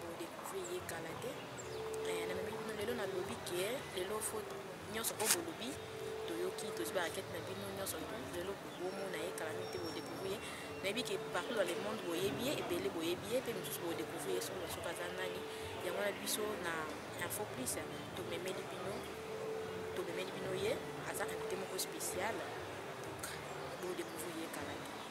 Bo découvrir ye kala te. Eh, na mimi bino lelo na lobi ke lelo faut nyonso oyo bolobi toyoki tozwi barakete na bino nyonso lelo bobomo na ye kala mingi te bodécouvrir ye nayebi ke partout dans le monde boyebi ye ebele boyebi ye mpe mosusu bodécouvrir ye soki soki aza nani yango wana biso na info plus tomemeli bino tomemeli bino ye aza invité moko spécial donc bodécouvrir ye kala te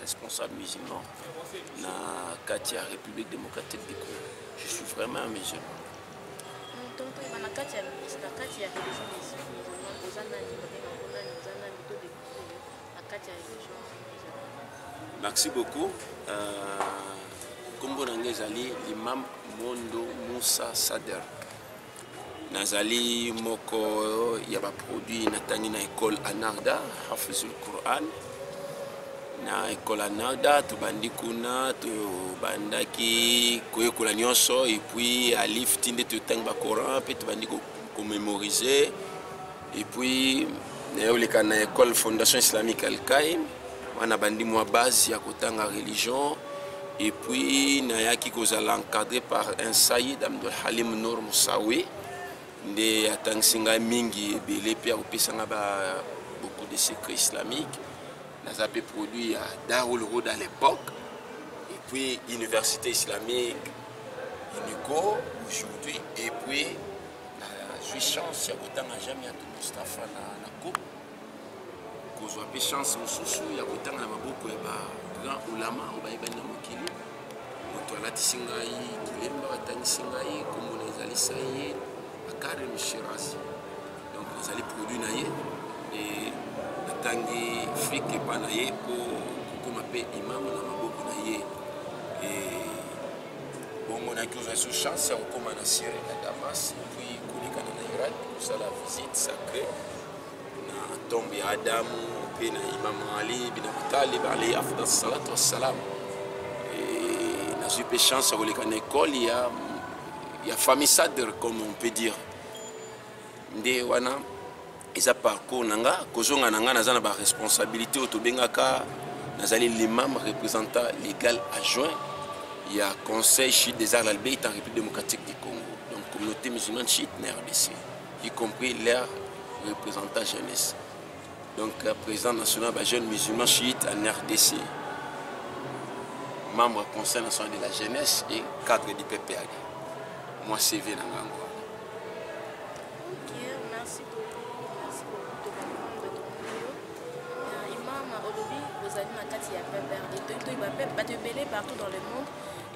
responsable musulman na kati ya république démocratique du congo je suis vraiment un musulman merci beaucoup nkombo euh, na ngai ezali limam mondo musa sader nazali moko ya baproduit natangi na ekole anarda hafizul quran na ekole anarda tobandi kuna tobandaki koyekola nyonso epuis alif ti nde totangi bacoran mpe tobandi komemorise ko et puis nayoleka na école fondation islamique alkaim wana bandi mwa base ya kotanga religion et puis nayaki kozala encadré par un saïd amdol halim nour mosawe nde atangisi ngai mingi ebele mpe akopesa ngai ba beaucoup de secret islamique naza mpe produit ya darul road à l'époque et puis université islamique unico aujourd'hui et puis nazwi chance ya kotanga jami ya mustafa na, na cope kozwa mpe chance mosusu ya kotanga na maboko ya bagrand ulama oyo bayebani na mokili moto alatisi ngai kilemba atangisi ngai nkombo na ezali saye akare mishirasi donc nazali produit na ye e natangi frike epa na ye mpo kokoma mpe imamo na maboko na ye e bongo nayaki kozwa so chance ya kokóma na syrie na damas puis kolekana na irak kosala visite sacré na tombe ya adamu mpe na imam ali bin abi talib alayhi afdal salatu wassalam nazwi mpe chance ya koleka na ekole ya ya famille sadr comme on peut dire nde wana eza parcours na nga kozonga na nga naza na baresponsabilité oyo tobengaka nazali limam représentant légal adjoint ya conseil chite des arts l'albeit en république démocratique du congo donc communauté musulmane chite na rdc y compris leur représentant jeunesse donc euh, président national ba jeune musulman chiite en rdc membre conseil national de la jeunesse et cadre du pprd moi cv na ngango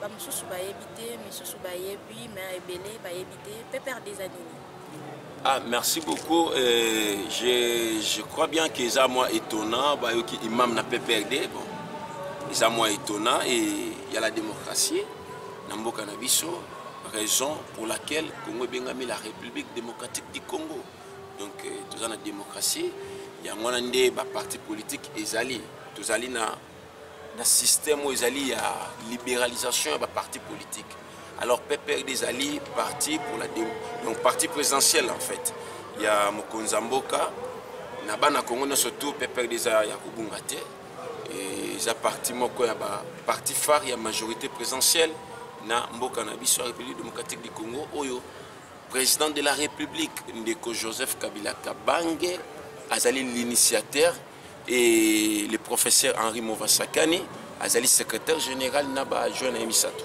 bamosusu bayebi te misusu bayebi me ebele bayebi te pepere des anini Ah, merci beaucoup. Euh, je, je crois bien que ça moi étonnant, bah, okay, imam n'a pas perdu. Bon, ça moi étonnant et il y a la démocratie. Nambo Canabiso, raison pour laquelle congo ebengami la république démocratique du congo donc euh, toza na démocratie yango wana nde baparti politique ezali tozali na na système oyo ezali ya libéralisation ya baparti politique alors pprd ezali parti pour la donc parti présidentielle en fait ya mokonzi ya mboka na bana congo nyonso tout pprd eza ya kobunga te eza parti moko ya ba parti phare ya majorité présidentielle na mboka na biso ya république démocratique du congo oyo président de la république ndeko joseph kabila kabange azali l'initiateur et le professeur henri movasakani azali secrétaire général na bajoin na ye misato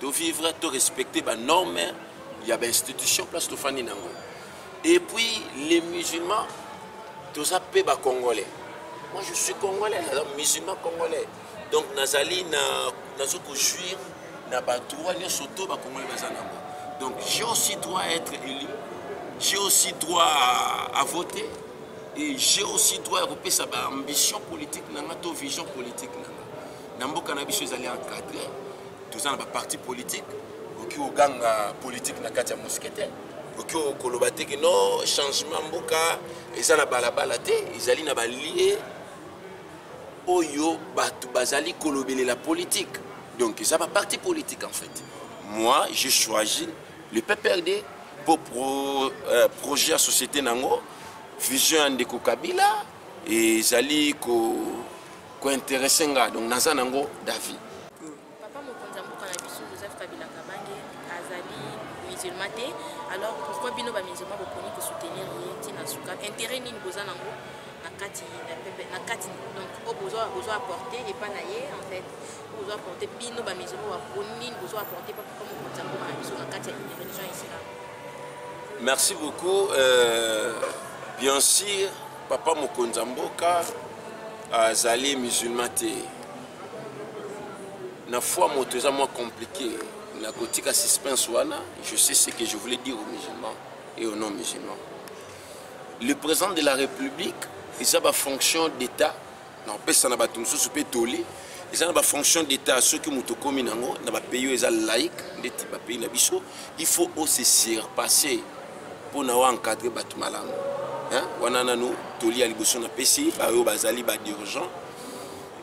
to vivre to respecter ba normes ya ba institution place tofandi nango et puis les musulmans toza pe ba congolais moi je suis congolais alors musulman congolais donc nazali na nazo ko jouir na ba droit nyonso to ba congolais baza nango donc j'ai aussi droit à être élu j'ai aussi droit à, à voter et j'ai aussi droit ya kopesa ba ambition politique na nga to vision politique na nga na mboka na biso ezali encadre toza na baparti politique okoki koganga politike na kati ya mousquetaire okoki koloba te ke no changement mboka eza na balabala te ezali na balie oyo bato bazali kolobelela politike donc eza baparti politique en fait moi je choisi le pprd mpo pro, euh, projet ya société na yango vision ya ndeko kabila ezali ko ko interesse nga donc naza nango d'avis papa mokonzi ya mboka na biso joseph kabila kabange azali musulman te alors pourquoi bino ba musulman boponi ko soutenir ye ti na suka intérêt nini boza nango na kati na pepe na kati donc oyo bozo bozo apporter epa na ye en fait bozo apporter bino ba musulman baponi nini bozo apporter papa mokonzi ya mboka na biso na kati ya religion islam merci beaucoup euh, bien sûr Papa mokonzi ya mboka azali musulman te. Na foi moto eza mwa compliqué. Na kotika suspense wana, je sais ce que je voulais dire aux musulmans et aux non musulmans. Le président de la République eza ba fonction d'État na kopesa na bato mosusu mpe toli eza na bafonction d'état soki moto okomi na yango na bapays oyo eza laïque ndeti bapays na biso il faut ose surpasse mpo na oencadre bato malamu wana nanu toli ya liboso napesi baoyo bazali badirigent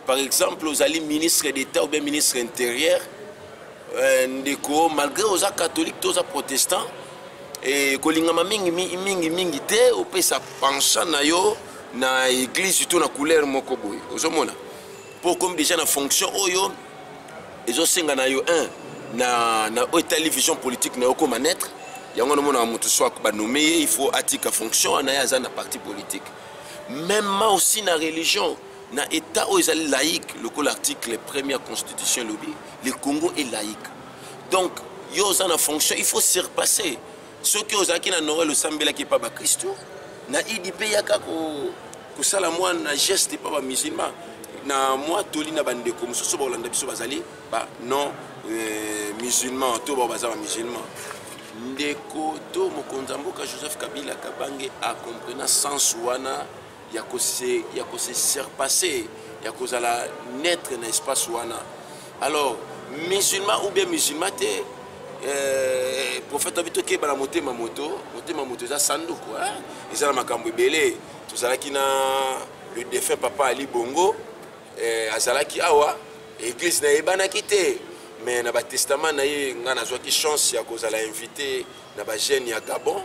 par exemple ozali ministre d'état ou bien ministre intérieur Euh, ndeko malgré oza catholique to oza protestant e, kolingama mingi mingi mingi te opesa penchant na yo na église to na couleur moko boye ozomona mpo okomi déjà na fonction oyo ezosenga na yo un na, na oyo etali vision politique na yo okoma naître yango namonaka moto so banome ye il faut atika fonction wana ye aza na parti politique meme aussi na religion na état oyo ezali laïque lokola article premier ya constitution elobi le congo est laïque donc yo oza na fonction il faut surpasser soki ozalaki na noel osambelaki epa bakristo na idi mpe yaka kosala mwa na geste epa bamusulman na mwa toli na bandeko mosusu bakolanda biso bazali ba non euh, musulman to bao baza bamusulman ndeko to mokonzi ya mboka joseph kabila kabange acomprena sense wana ya ko se ya ko se surpasser ya kozala neutre na espace wana alors musulman ou bien musulman te eh, prophète abi tokeba na motema moto motema moto eza sanduku eh? eza na makambo ebele tozalaki na le défunt papa ali bongo eh, azalaki awa église nayebanaki te mais na batestament na ye ngai nazwaki chance ya kozala invité na ba jeunes ya Gabon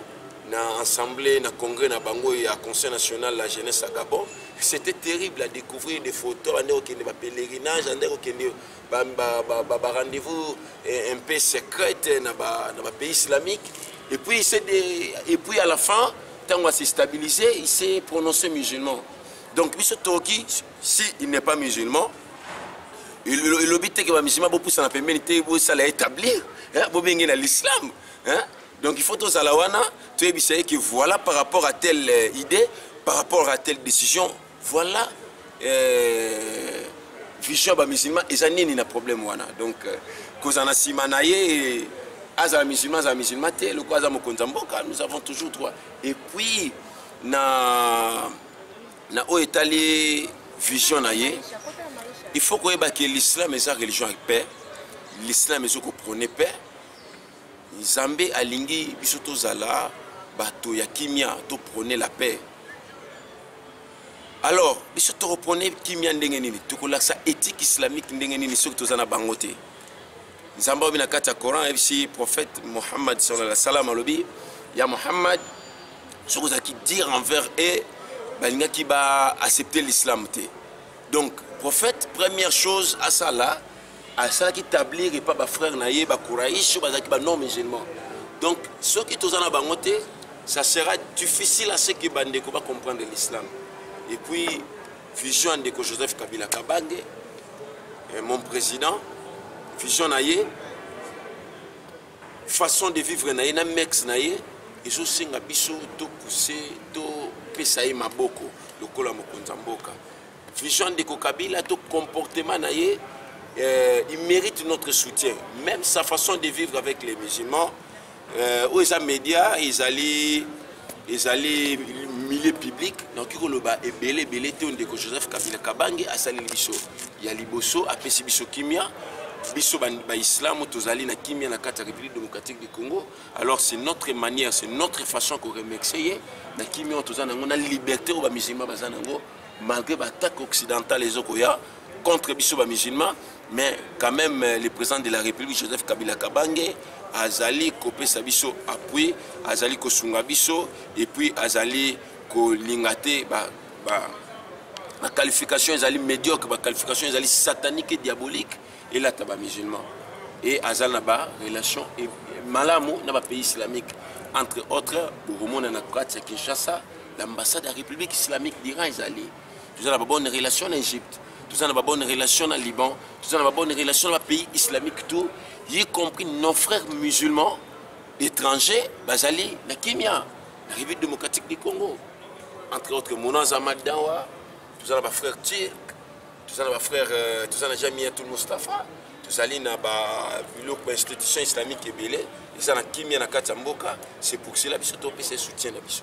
na assemblée na congrès na bango ya conseil national la jeunesse ya Gabon c'était terrible à découvrir des photos ande kokende ba pèlerinage ande kokende ba, ba, ba, ba, ba rendez-vous eh, un peu secrète na ba, na ba pays islamique et puis des, et puis à la fin ntango à se stabiliser il s'est prononcé musulman donc biso toki si il n'est pas musulman elobi te ke bamisulman bopusana pembeni te bosala établir bobenge na l'islam donc il faut tozala wana toyebisa ye ke voilà par rapport à telle euh, idée par rapport à telle décision voilà euh, vision ya bamusulman eza nini na problème wana donc euh, kozala na nsima na ye azala musulman azala musulman te lokola aza mokonzi ya mboka nous avons toujours droit et puis na na oyo etali vision na ye il faut koyeba ke l'islam eza religion ya paix l'islam ezo koprone paix nzambe alingi biso tozala bato ya kimia toprone la paix alors biso tokoprone kimia ndenge nini tokolakisa éthique islamique ndenge nini soki toza na bango te nzambe alobi na kati ya coran ayebisi prophète mohammad salaa salam alobi ya mohammad soki ozalaki dire envers e balingaki baaccepte l'islam te donc prophète première chose asala asalaki tablir epa bafrère na ye bakouraïs oyo bazalaki banon musulman donc soki toza na bango te ça sera difficile à ce que bandeko bacomprendre l'islam et puis vision ya ndeko joseph kabila kabange eh, mon président vision na ye façon de vivre na ye na mex na ye ezosenga biso topuse topesa ye maboko lokola mokonzi ya mboka vision ndeko kabila to comportement na ye euh, il mérite notre soutien même sa façon de vivre avec les musulmans Euh, oyo eza media ezali ezali milieu public nakoki koloba ebele ebele te ndeko joseph kabila kabange asaleli biso ya liboso apesi biso kimia biso baislamu tozali na kimia na kati ya république démocratique du congo alors c'est notre manière c'est notre façon ya koremercie ye na kimia oyo toza na yango na liberté oyo bamusulman baza na yango malgré baattaque occidentale ezokoya contre biso bamusulman mais quand même euh, le président de la république joseph kabila kabange azali kopesa biso appui azali kosunga biso et puis azali kolinga te ba, ba, ba qualification ezali médiocre ba qualification ezali satanique et diabolique elata ba musulman et aza na ba relation e, malamu na ba pays islamique entre autres bokomona na kati ya kinshasa l'ambassade ya république islamique d'iran ezali toza na babonne relation na egypte toza na babonne relation na liban toza na babonne relation na bapays islamique tout y compris nos frères musulmans étrangers bazali na kimia na république démocratique du congo entre autres mono aza madawa toza na bafrère turc toza na bafrère euh, toza na jamiatul mustapha tozali na biloko ya institution islamique ebele eza na kimia na kati ya mboka c'est pour cela biso topesa soutien na biso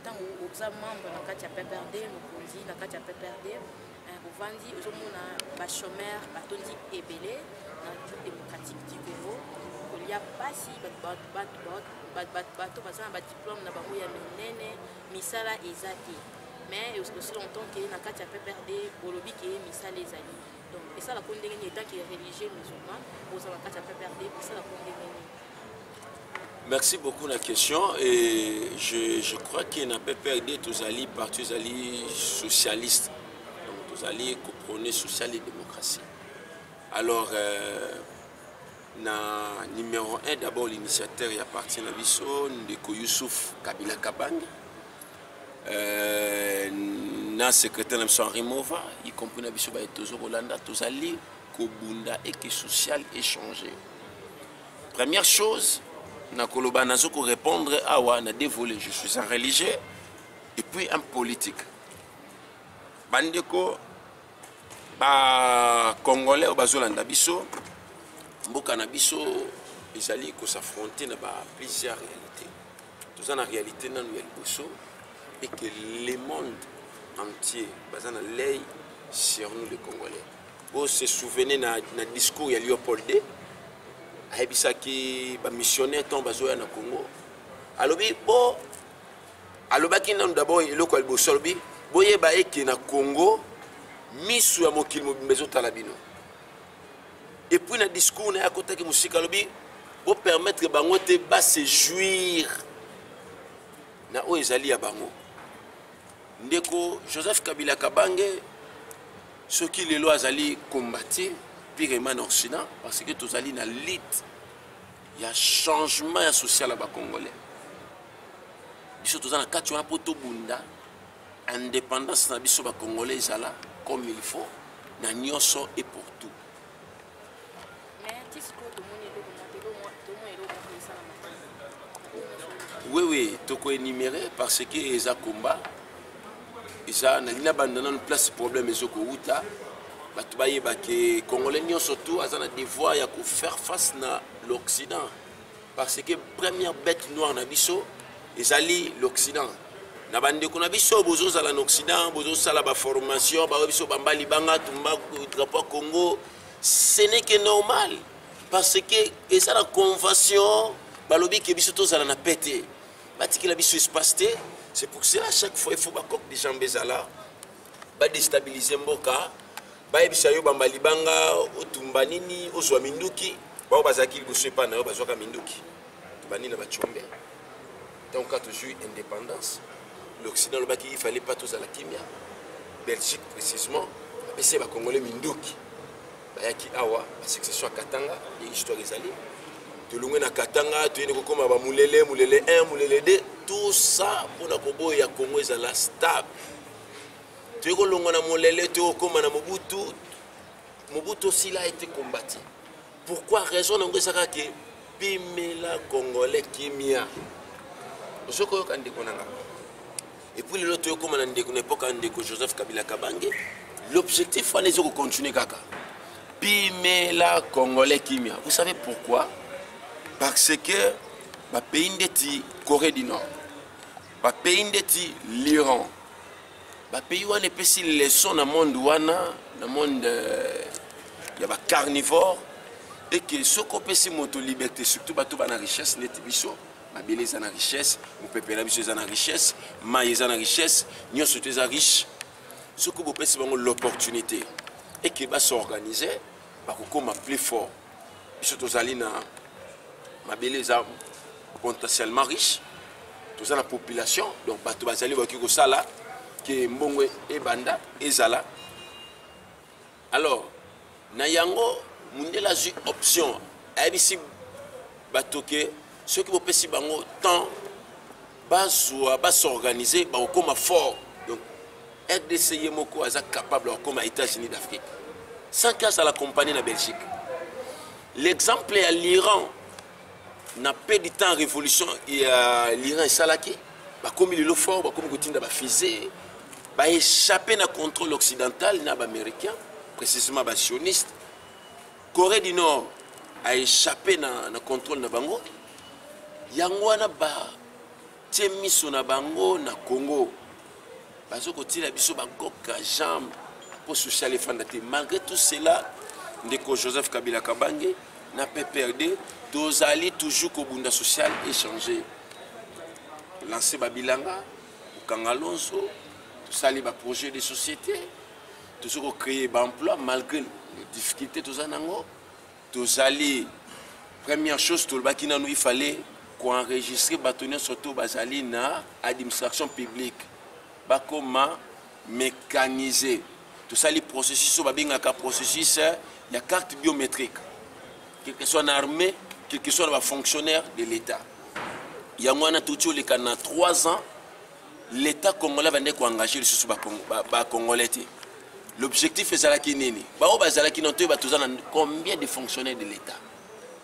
ntango oza membre na kati ya pprd mokonzi na kati ya pprd ovandi eh, ozomona bachomeur batondi ebele na jour démocratique du congo kolia mpasi bato baza na badiplome na bango ya minene misala eza te mais osila entend ke na kati ya pprd bolobi ke misala ezali donc esala ko ndenge nini etant que religieux musulman oza na kati ya pprd esala ko ndenge nini Merci beaucoup la question et je, je crois que na PPRD tozali parti ezali socialiste donc tozali koprône social et démocratie alors euh, na numéro 1 d'abord l'initiateur ya parti na biso ndeko Youssouf Kabila Kabange euh, na secrétaire na biso henri mova y compris na biso baye tozo kolanda tozali kobunda eke social échange première chose nakoloba nazo korépondre awa na dévolé je suis un religieux et puis un politique bandeko bacongolais oyo bazolanda biso mboka na biso ezali kosaffronte na ba plusieurs réalité toza na réalité nanu ya liboso et que le monde entier baza na lei sur nous les congolais bo se souvenez na, na discours ya léopold d ayebisaki bamissionnaire ntango bazoya na congo alobi bo alobaki nanu dabord eloko ya liboso alobi boyeba eke na congo miso ya mokili mobimba ezotala bino et puis na discours na ye akotaki mosika alobi bopermettre bango te basejuire na oyo ezali ya bango ndeko joseph kabila kabange soki lelo azali combati piremane occident parce que tozali na lite ya changement ya social ya bacongolais biso toza na kati wana mpo tobunda indépendance na biso bacongolais ezala comme il faut na nyonso et pour tout oui oui tokoenumere parce que eza combat eza nalingi nabanda nano place problème ezokowuta bato bayeba ke congolais nyonso tout aza na devoir ya kofaire face na l'occident parce que première bête noire na biso ezali l'occident na bandeko na biso bozozala na occident bozosala baformation baoyo biso bamba libanga tumba drapo ya congo ce n'est que normal parce que eza na convention balobi ke biso tozala na pe te batikela biso espace te c'est pour cela chaque fois il faut bacoque de jambe ezala ba destabiliser mboka bayebisa yo bamba libanga otumba nini ozwa minduki bao bazalaki liboso epai na yo bazwaka minduki tobandi na bacombe ntango kaka tozwi indépendance l'occident alobaki il fallait pas tozala kimia belgique précisement apesi bakongole minduki bayaki awa basuccession ya katanga nde histoire ezali tolongwe na katanga toyende kokoma bamulele mulele 1 mulele 2 tout ça mpona koboya congo ezala stable toye kolongwa na molele toye kokóma na mobutu mobutu osila ete kombati pourquoi raison na yango ezaka ke pimela congolais kimia ozo koyoka ndeko na nga epuis lelo toye kokóma na ndeko na epoka ya ndeko joseph kabila kabange l'objectif wana eza kocontinue kaka pimela congolais kimia vous savez pourquoi parce que bapays ndeti corée du nord bapays ndeti liran bapays wana epesi leçon na monde wana na monde euh, ya bacarnivore eke soki opesi moto liberté surtout bato bana richesse ndeti biso mabele eza na richesse mopepe na biso eza na richesse mai eza na richesse nyonso to eza riche soki bopesi bango l'opportunité eke basorganize bakokoma plus fort biso tozali na mabele eza potentiellement riche toza na population donc bato bazali bakoki kosala ke mbongo ebanda ezala alors na yango mundele azwi option ayebisi bato ke soki bopesi bango temps bazwa ba s'organiser bakokoma fort donc rdc ye moko aza capable ya kokoma états-unis d'afrique sans que azala compagnie na belgique l'exemple ya l'iran na peu du temps révolution ya l'iran esalaki bakomi lelo fort bakomi kotinda bafise baéchappe na contrôle occidental na baaméricain précisément basioniste corée du nord a échappé na, na contrôle na bango yango wana batie miso na bango na congo bazo kotiela biso bakoka jambe mpo social efanda te malgré tout cela ndeko joseph kabila kabange na pprd tozali toujours kobunda social échange lanse babilanga kokanga lonso tosali baprojet de société tozo ko créer ba emploi malgré difficulté toza nango tozali première chose tolobaki nanu il fallait koenregistre bato nyonso to bazali na administration publique bakoma mécanise tosali processus oyo babengaka processus ya carte biométrique quelque soit na armée quelque soit na bafonctionnaire de l'état yango wana touti oleka na 3 ans l'etat congolais abandaki koengage lisusu bacongolais te l'objectif ezalaki nini baoyo bazalaki na toyeba toza na combien de fonctionnaire de l'état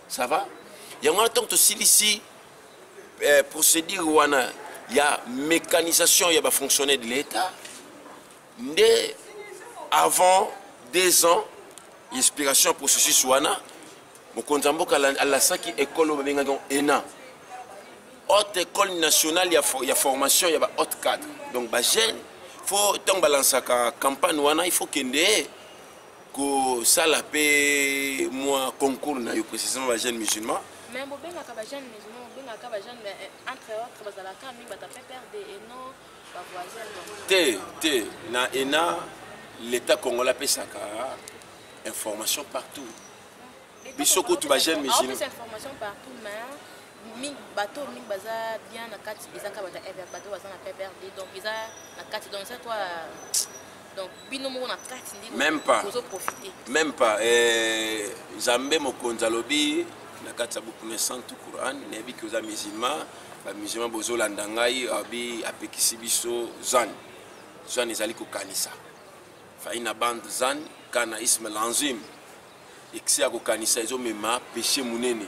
ça va yango wana ntango tosilisi eh, procédure wana ya mécanisation ya bafonctionnaire de l'état nde avant deux ans inspiration processus wana mokonzi ya mboka alasaki ekole oyo babengaki yango ena haute école nationale ya, ya formation ya ba haute cadre donc bajeune fo ntango balansaka campagne wana il faut kende kosala mpe mwa concours na yo précisément bajeune musulman mais bobengaka bajeune musulman bobengaka bajeune mais eh, entre autres bazalaka mingi bata pprd et non te te na ena l'état congolais apesaka information partout biso kutu bajeune musulman bato oyo mingi baza bien na kati eza kaka bato ya bato baza na pprd donc eza na kati donc eza toi donc bino moko na kati nde même pas ozo profiter même pas eh, nzambe mokonzi alobi na kati ya buku na santu quran nayebi ke oza musulman bamusulman bozolanda ngai abi apekisi biso zan zan ezali kokanisa faina band zan kana ismail anzim excès ya kokanisa ezomema péché monene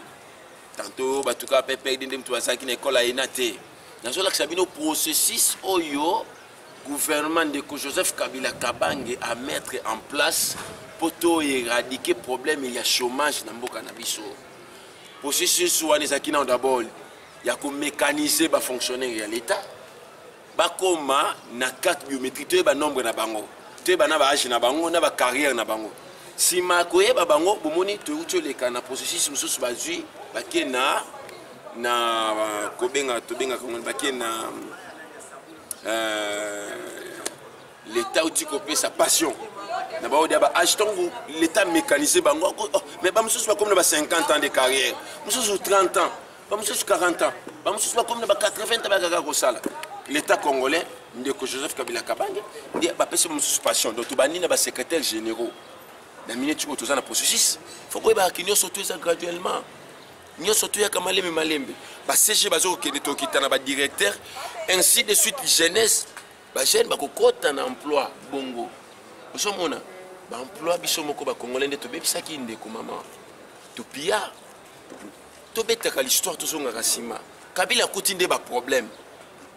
tanto bato kaka ppd nde moto bazalaki na ekole ayena te nazolakisa bino processus oyo gouvernement ndeko joseph kabila kabange a mettre en place mpo to éradike problème ya chômage na mboka na biso processus wana ezalaki nao d'abord ya komécaniser bafonctionnaire ya l'état bakoma na carte biométrique toyeba nombre na bango toyeba na baage na bango na bacarrière na bango nsima ya koyeba bango bomoni toyuti oleka na processus mosusu bazwi bake na na kobenga tobengaka ngo bake na euh, l'état outi kopesa passion na baoyo dia baage ntango l'état mécanise bango oh, mais bamosusu bakomi na ba 50 ans de carrière mosusu 30 ans bamosusu 40 ans bamosusu bakomi na ba 80 bakaka kosala l'état congolais ndeko joseph kabila kabange nde bapesi mosusu passion donc tobandi na basecrétaire généraux na minute oyo toza na processus fo koyebaka ki nyonso to eza graduellement nyonso toyaka malembe malembe bacg baza kokende tokita na badirecteur ainsi de suite jeunesse bajeune bakokɔta na emploi bongo ozomona baemploi biso moko bacongolais nde tobebisaki ndeko mama topia tobetaka l'histoire tozongaka nsima kabila akuti nde baproblème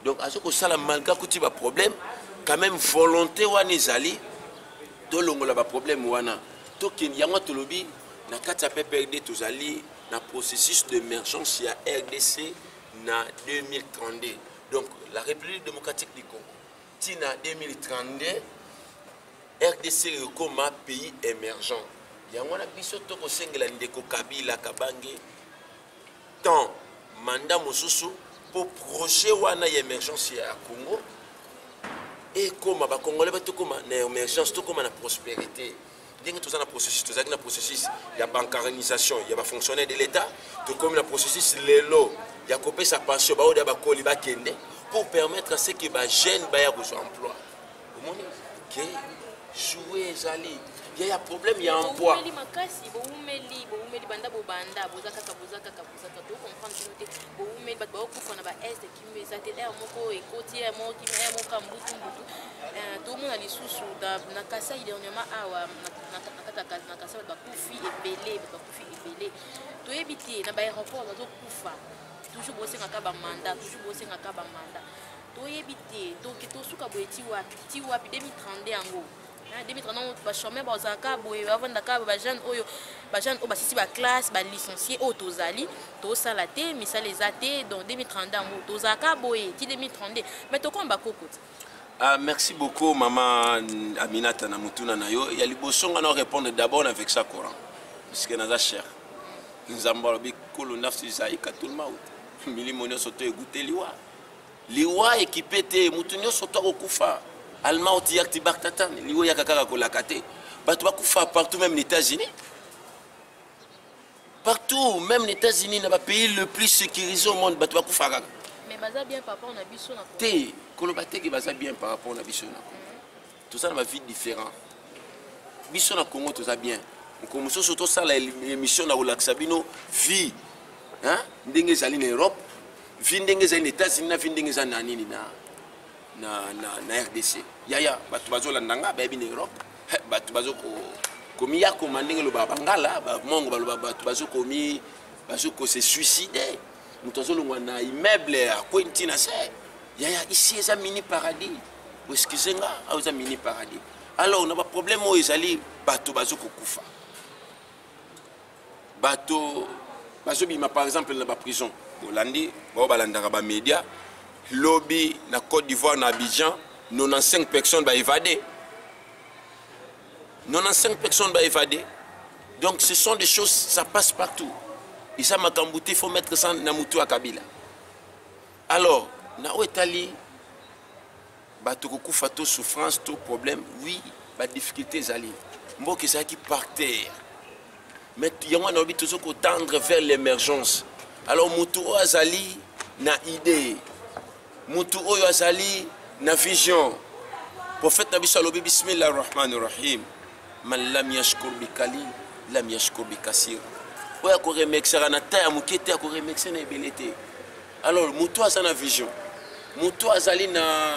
donc aza kosala malgré akuti baproblème quand même volonté wana ezali tolongola baproblème wana tokende yango tolobi na kati ya pprd tozali na processus d'émergence ya rdc na 2032 donc la république démocratique du congo ntina 2032 rdc ekoma pays emergent yango wana biso tokosengela ndeko kabila kabange temps manda mosusu mpo projet wana ya emergence ya congo ekoma bakongole batokoma na emergence tokoma na prospérité ndenge toza na processus tozalaki na processus ya bancarisation ya bafonctionnaire de l'état tokomi na processus lelo ya kopesa pension baoyo ya bakoli bakende pour permettre ce que bajeune baya kozwa emploi omoni ke joue ezali ya ya problème ya emploi boumeli makasi boumeli boumeli banda bobanda boza kaka boza kaka boza kaka to comprendre bino te boumeli bato baokufa na ba est kimi eza te aire moko ekoti aire moko kimi aire moko kambutu mbutu euh, tomona lisusu na kasai dernièrement awa na kati na kasai bato bakufi ebele bato bakufi ebele toyebi te na ba aéroport bazokufa toujours bosengaka bamanda toujours bosengaka bamanda toyebi te toke tosuka boye ti wapi ti wapi 2032 yango 2030 bachomeur bazalaka boye bavandaka bajeune oyo bajeune oyo basisi baclasse balicencie oyo tozali tosala te misala eza te donc 2032 yango tozalaka boye ti 2032 mais tokoma bakoko ti Uh, merci beaucoup mama aminata na motuna na yo ya liboso nga na répondre d'abord na vexa coran puisque naza cher nzambe alobi kolo nafsi zaika tulmaut milimo nyonso to eguteli wa liwa ekipe te moto nyonso to akokufa almauti yakti baktatan liwa eyaka kaka kolaka te bato bakufa partout même na états-unis partout même na états-unis na bapays le plus sécurisé au monde bato bakufa kaka te koloba teke baza bien par rapport na biso na toza na bavie différent biso na congo toza bien mokolo mosusu tosala émission na kolakisa bino vie ndenge ezali na europe vie ndenge ezali na états-unis na vie ndenge ezali na nini na, na, na, na rdc yaya bato bazolanda nga bayebi na europe bato bazoko komiyakoma ndenge loba bangala bamongo baloba bato bazokomi bazokose suicide moto azolongwa na immeuble akwei ntina se yaya isi eza mini paradis excuse nga awa eza mini paradis alors na baproblème oyo ezali bato bazokokufa bato bazobima par exemple na baprison bolandi bao balandaka bamédia lobi na côte d'ivoire na abidjan 95 personnes baévade 95 personnes baévade donc ce sont des choses ça passe partout eza makambo te faut mettre ça na motu ya kabila alors na oyo etali bato kokufa to souffrance to problème oui badifficulté ezali mboka ezalaki par terre mais yango wana olobi tozo kotendre vers l'émergence alors motu oyo azali na idée motu oyo azali na vision prophète na biso alobi bismillah rahmani rahim man lam yashkur bi kali lam yashkur bi kasir oyo akoremexaka na ta ya moke te akoremexe na ebele te alors moto aza na vision moto azali na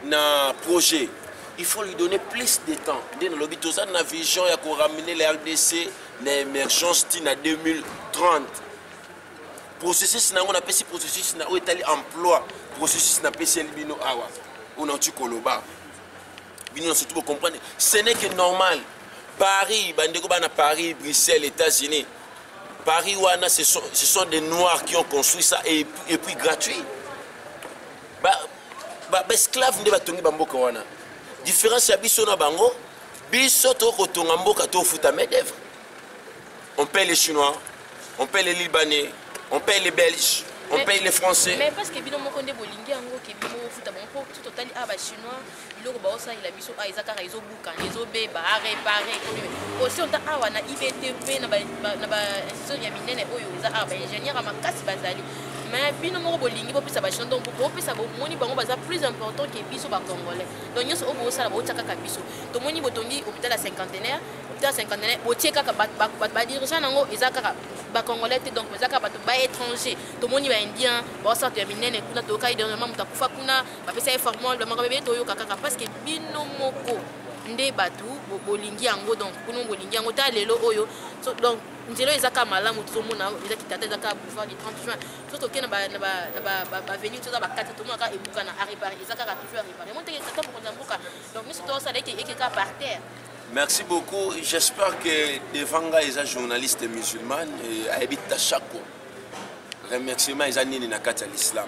na projet il faut lui donner plus de temps nde nalobi toza na vision ya koramene la rdc na émergence ti na 2030 processus na yango napesi processus na oyo etali emploi processus napesi eli bino awa oyo nauti koloba bino na surtout bocomprendre ce n'est que normal paris bandeko bana paris bruxelles états-unis paris wana ce sont, ce sont des noirs qui ont construit ça et, et puis gratuit baesclave ba, ba nde batongi bamboka wana différence ya biso na bango biso tokoki kotonga mboka tofuta main d'œuvre on paye les chinois on paye les libanais on paye les belges on paye les français mais parce que bino moko nde bolingi yango ke bino ofuta bango mpo totali a ah, bachinois biloko baosalela biso awa ah, eza kaka ezobukana ezobeba arepare osi ota awa na ibt mpe na bainstitution ya minene oyo eza awa baingénieur ya makasi bazali mais bino moko bolingi bopesa bachino donc bopesa bomoni bango baza plus important ke biso bacongolais donc nyonso oyo bosala botia kaka biso tomoni botongi hôpital ya cinquantenaire hôpital ya cinquantenaire botie kaka badirigant yango eza kaka bacongolais te donc eza kaka bato baétranger tomoni baindien baosala to ya minene kuna toyokaki dernièrement moto akufa kuna bapesa ye formule bamakambo ebele toyoka kaka parce que bino moko nde bato bolingi yango donc kuno bolingi yango ta lelo oyo so, donc nzela oyo eza kaka malamu tozomona eza kitata eza kaka boulevard du 30 juin so toke na baveni toza bakati tomona kaka ebuka na arepare eza kaka toujours arepare yango ndenge tata mokonzi ya mboka donc nyonso tosala eke eke kaka par terre Merci beaucoup. J'espère que Devanga est un journaliste musulman et habite à Chako. Remerciement, ils ont à l'islam.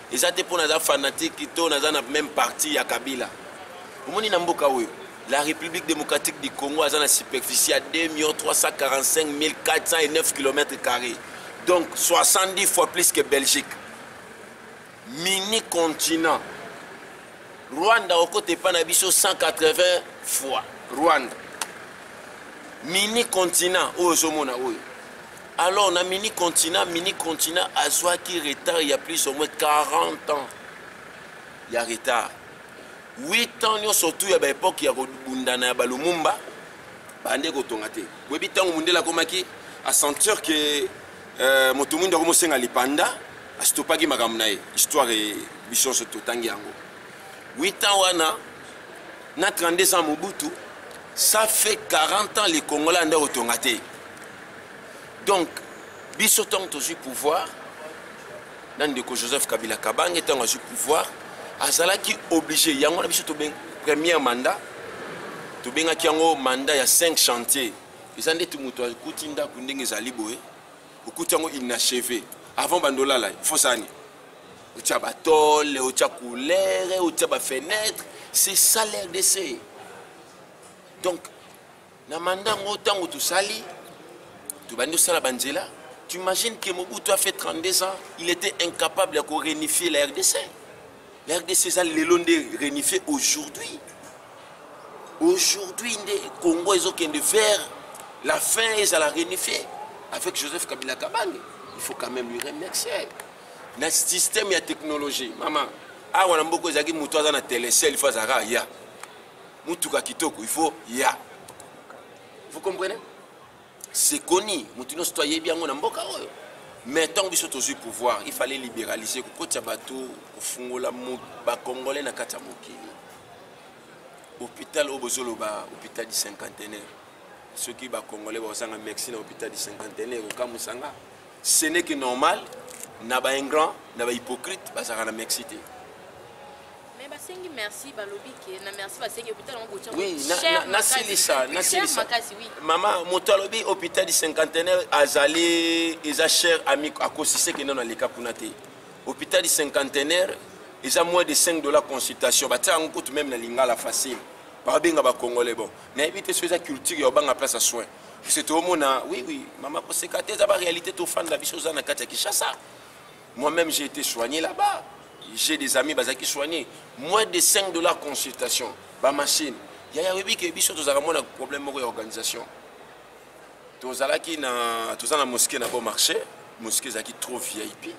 eza te mpo naza fanatique to naza na meme parti ya kabila omoni na mboka oyo la république démocratique du congo aza na superficie ya 2 345 409 km carré donc 70 fois plus que belgique mini continent rwanda okota epai na biso 180 fois rwanda mini continent oyo ozomona oyo Alors na mini continent, mini continent azwaki retard il y a plus ou moins 40 ans. Il y a retard. 8 ans nous surtout ya ba époque ya kobundana ya ba Lumumba bande kotonga te. Boyebi tango mundela komaki a sentir que euh, moto mundo akomosenga lipanda astopaki makambo na ye histoire e, biso nyonso totangi yango 8 ans wana na 32 ans mobutu ça fait 40 ans les congolais ande kotonga te donc biso ntango tozwi pouvoir na ndeko joseph kabila kabange ntango azwi pouvoir azalaki oblige yango wana biso tobengi première mandat tobengaki yango mandat ya 5 chantier eza ndeti moto akuti ndako ndenge ezali boye okuti yango inacheve avant bandolala ifosani otya batole otya coulere otya bafenetre c'est ça l'rdc donc na manda yango ntango tosali tobandi osala banzela tu imagines que mobutu a fait 32 ans il était incapable ya korenifie la rdc la rdc eza lelo nde renifie aujourd'hui aujourd'hui nde congo ezokende vers la fin ezala renifie avec joseph kabila kabange il faut quand même lui remercier na système ya technologie mama awa na mboka ezalaki moto aza na telecel fo azalaka aya mutuka kitoko il faut ya vous comprenez c'est connu moto nyonso to ayebi yango na mboka oyo mais ntango biso tozwi pouvoir il fallait libéraliser kokotya bato kofungola bacongolais na kati ya mokili hôpital oyo bozoloba hôpital du cinquantenaire soki bacongolais bakozanga mexi na hôpital du cinquantenaire okamwisanga ce n'est que normal na ba ingrant na ba hypocrite bazalaka na merci te mais basengi merci balobi ke na merci basengi hôpital yango botya oui nasilisa nasilisa makasi oui mama moto alobi hôpital du cinquantenaire azali eza cher ami akosise ke nano aleka kuna te hôpital du cinquantenaire eza moins de 5 dollars consultation batia yango kutu meme na lingala facile babenga bacongolais bon nayebi te soki eza culture ya obanga place ya soin biso toomona oui oui mama koseka te eza baréalité tofanda biso oza na kati ya kinshasa moi-même j'ai été soigné là-bas j'ai des amis bazalaki soigné moins de 5 dollars consultation bamachine yaya oyebi ke biso tozalaka mwana problème moko ya organisation tozalaki na toza na mosqué na bon marché mosqué ezalaki trop vip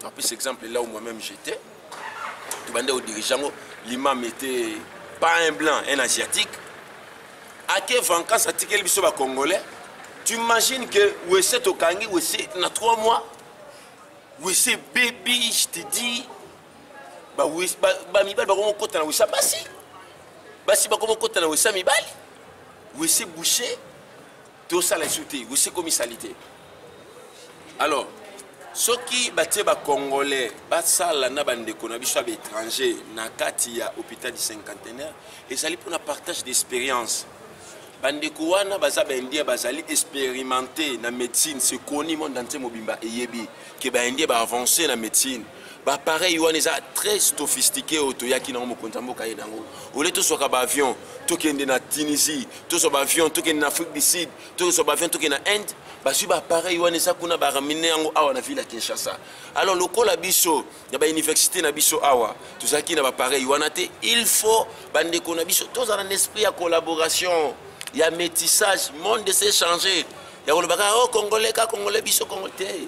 napesa exemple là où moi même j'étais tobanda kodirige yango l'imam était pas un blanc un asiatique ake vancance atikeli biso bacongolais tu imagines que wese tokangi wese na 3 mois wese bebi je te dis bamibali bakomi kokota na wesa basi basi bakomi kokota na wesa mibali wese boucher tosala esu te wese ekomi salite alors soki batie bacongolais basala na bandeko na biso ya baétranger na kati ya hôpital du cinquantenaire ezali mpona partage d'expérience bandeko wana baza baindien bazali expérimenté na médecine sekoni monde entier mobimba eyebi ke baindien baavance na médecine bapareil wana eza très sophistique oyo toyaki nango mokonzi ya mboka ye nango olie tozwaka baavion tokende na tunisie tozwa baavion tokende na afrique du sud tozwa baavion tokende na inde bazwi baapareil wana eza kuna baramine yango awa na ville ya kinshasa alors lokola biso na bauniversité na biso awa tozalaki na bapareil wana te il faut bandeko na biso tozala na esprit ya collaboration ya métissage monde ese changer ya kolobaka o oh, congolais ka congolais biso congolais te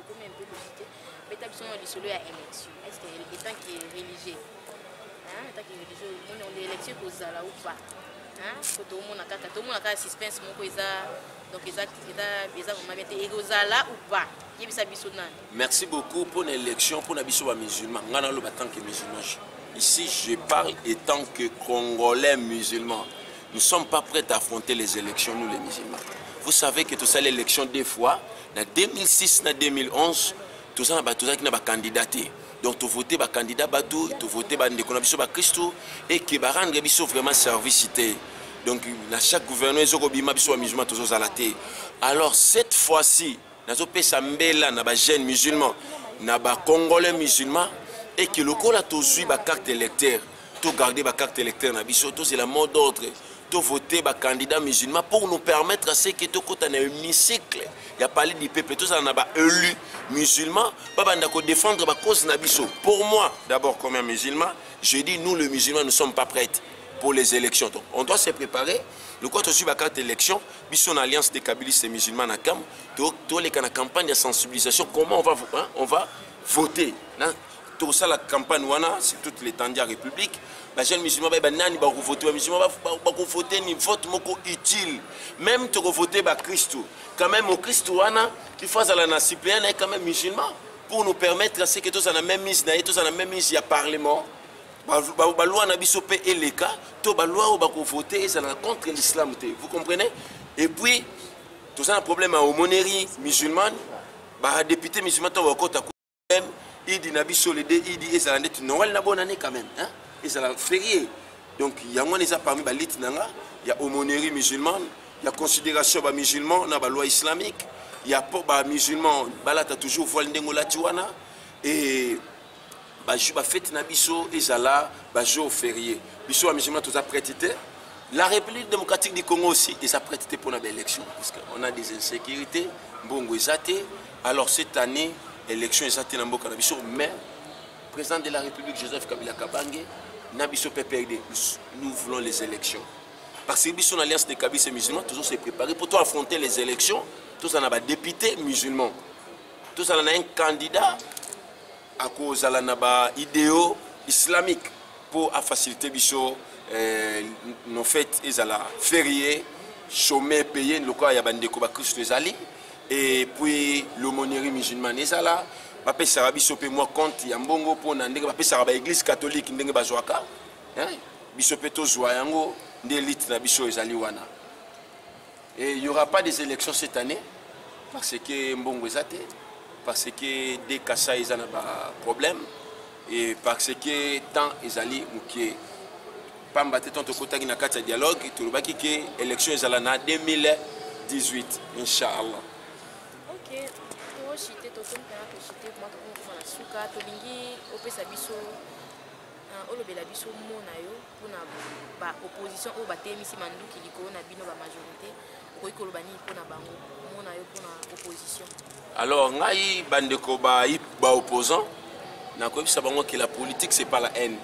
ekomi un peu compliqué beta biso na lisolo ya élection est ce que étant que religieux hein étant que religieux omoni on élection ekozala ou pas hein faut tomona kaka tomona kaka suspense moko eza donc eza eza eza vraiment bien te ekozala ou pas yebisa biso nani merci beaucoup pour l'élection pour na biso ba musulmans ngana lo ba tant que musulmans ici je parle étant que congolais musulmans nous sommes pas prêts à affronter les élections nous les musulmans vous savez que tout ça l'élection deux fois na 2006 na 2011 toza na bato tozalaki na bakandida te donc tovote bakandida bato tovote bandeko na biso bakristu eke barendre biso vraiment service te donc na chaque gouvernement ezokobima biso bamusulman tozozala te alors cette fois-ci nazopesa mbela na bajeune musulman na bacongolais musulman eke lokola tozwi bacarte électeur to garder ba carte électeur na biso tozela mot d'ordre to voter ba candidat musulman pour nous permettre à ce que tokota na hémicycle ya palais du peuple tozala na ba élu musulman babanda ko défendre ba cause na biso pour moi d'abord comme un musulman je dis nous le musulman nous sommes pas prêtes pour les élections donc on doit se préparer lokola tozwi bakarte élection biso na alliance des kabiliste musulman na kam toleka na campagne ya sensibilisation comment on va, hein, on va voter na tosala campagne wana sur toute l'étendue ya république bajeune musulman bayeba nani bakovote bamusulman bakovote ni vote moko utile même tokovote bakristu quand même mokristu wana il faut azala na suppléant na ye quand même musulman pour nous permettre ce que tozala na même mise na ye tozala na même mise ya parlement baloi na biso mpe eleka to baloi oyo bakovote ezala contre l'islam te vous comprenez et puis toza na problème ya homonerie musulmane badepute musulman ntango bakota idi na biso le de idi ezala ndeti noel na bonane quand même hein? ezala ferie donc yango wana eza parmi balite na nga ya aumônerie musulmane ya considération ba musulman na baloi islamique ya po ba musulman balata toujours voile ndenge olati wana e bafete na biso ezala bajour ferie biso ba musulman toza prete te la république démocratique du congo aussi eza prete te mpo na baélection parce que on a des insécurité mbongo eza te Alors cette année, élection eza te na mboka na biso, mais président de la République Joseph Kabila Kabange na biso PPRD, nous voulons les élections. Parce que biso l'alliance des Kabis et musulmans, tous se préparer pour toi affronter les élections, tous en a des députés musulmans, tous en a un candidat akozala na ba ideo islamique mpo afacilite biso eh, no fete ezala ferie chome paye lokola ya bandeko bakristo ezali et puis l'aumônerie musulmane ezala bapesaka biso mpe mwa compte ya mbongo mpo na ndenge bapesaka baeglise catholique ndenge bazwaka biso mpe tozwa yango nde elite na biso ezali wana Et il n'y aura pas des élections cette année parce que Mbongo Zate, parce que des Kassa ils ont un problème et parce que tant ils allaient moukier. Pamba te tonto kotaki na kati ya dialogue tolobaki ke élection ezala na 2018 inchallah ok toshite tokomi mpena toshite kuma tokomi kofana suka tolingi opesa biso olobela biso mona yo mpona ba opposition oyo batelemisi manduki likolo na bino ba majorité okoki koloba nini mpona bango omona yo mpona opposition alors ngai bandeko ba, ba opposant nakoyebisa bango ke la politique c'est pas la haine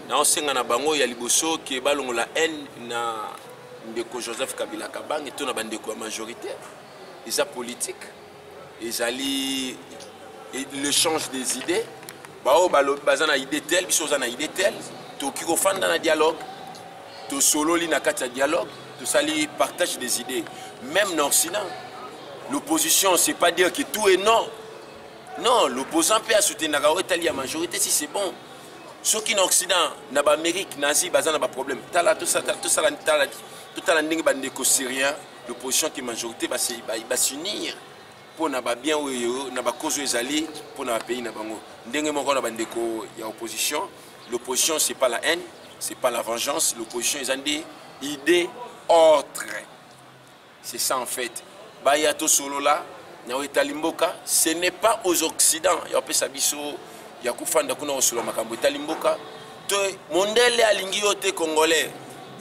naosenga na bango ya liboso ke balongola haine na ndeko joseph kabila kabange to na bandeko ya majorité eza politique ezali le change des idées baoyo balobi baza na idée tel biso oza na idée tel tokoki kofanda na dialogue tosololi na kati ya dialogue tosali partage des idées même na occident l'opposition c'est pas dire que tout est non non l'opposant mpe asoutenaka oyo etali ya majorité si c'est bon soki na occident na baamérique na asie baza na baproblème tala tosala totala ndenge bandeko syrien l'opposition qui majorité ba ba s'unir mpo na ba bien oyo na ba cause oyo ezali mpo na ba pays na bango ndenge moko na ba ndeko ya opposition l'opposition c'est pas la haine c'est pas la vengeance l'opposition eza nde idée autre c'est ça en fait baya tosolola na oyo etali mboka ce n'est pas aux occidents ya kopesa biso ya kofanda kuna kosolola makambo etali mboka to mondele alingi yo te congolais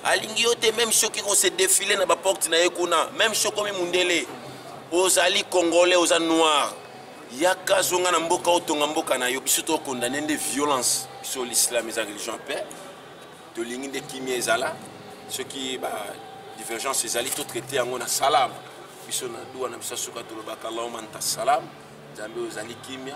alingi yo te meme soki ko se défile na baporte na ye kuna meme soki okomi mundele ozali congolais oza noir yaka zonga na mboka otonga mboka na yo biso tokondane nde violence biso l'islam eza religion mpe tolingi nde kimia ezala soki ba divergence ezali totraite yango na salam biso na duwa na biso ya suka tolobaka allahuma nta salam nzambe ozali kimia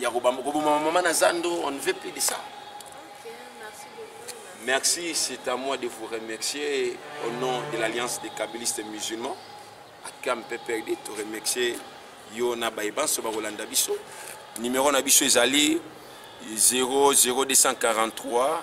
ya koboma mama na zando on ne veut plus de ça Merci, c'est à moi de vous remercier au nom de l'Alliance des Kabbalistes musulmans. À Kam Peperdi, te remercier Yona Baïban, Sobarolanda Bisso. Numéro Nabisso Ezali 00243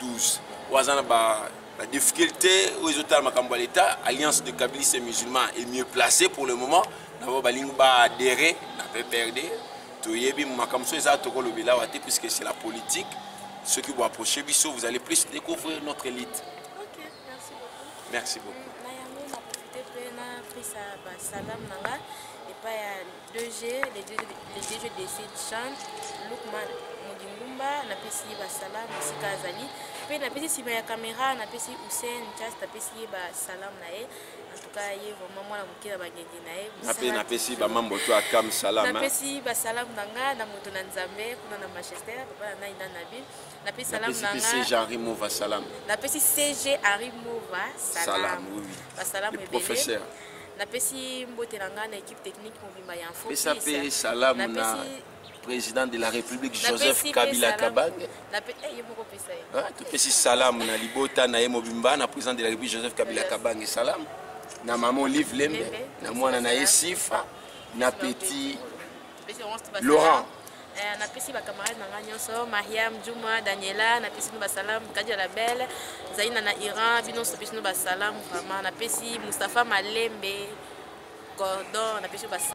12 oyo aza na ba badifficulté oyo ezotala makambo ya leta alliance de kabilis et musulman est mieux placé pour le moment na bango balingi baadere na pprd toyebi makambo so eza tokolobela awa te puisque c'est la politique soki boapproche biso vous allez plus découvrir notre élite okay, merci beaucoup, merci beaucoup. na yango na profite mpe napesa basalam na nga epai ya DG, le DG, le DG de cette chambre, Lukman Mudingumba, napesi ye basala mosika azali mpe napesi nsima ya kamera napesi Hussein Chas napesi ye basalamu na ye en tout cas ye vraiment mwana moke na bangenge na ye nape napesi bamambo to akam salama napesi basalamu na nga na moto na nzambe kuna na manchester papa na ngai na nabi napesi salamu na nga CG Arimova salamu napesi CG Arimova salamu basalamu ebele professeur napesi mbote na ngai na équipe technique mobimba ya info pesa mpe salamu na président de la république joseph kabila kabange topesi salamu na libota na ye mobimba na président de la république joseph kabila kabange salamu na mama olive lembe na mwana na ye sifa na petit laurent Eh, napesi bacamarade na ngai nyonso mariam juma daniela napesi bino basalamu kadi ya labele zaina na iran bino nyonso pesi bino basalamu vraiment napesi mustapha malembe gordon napesi bas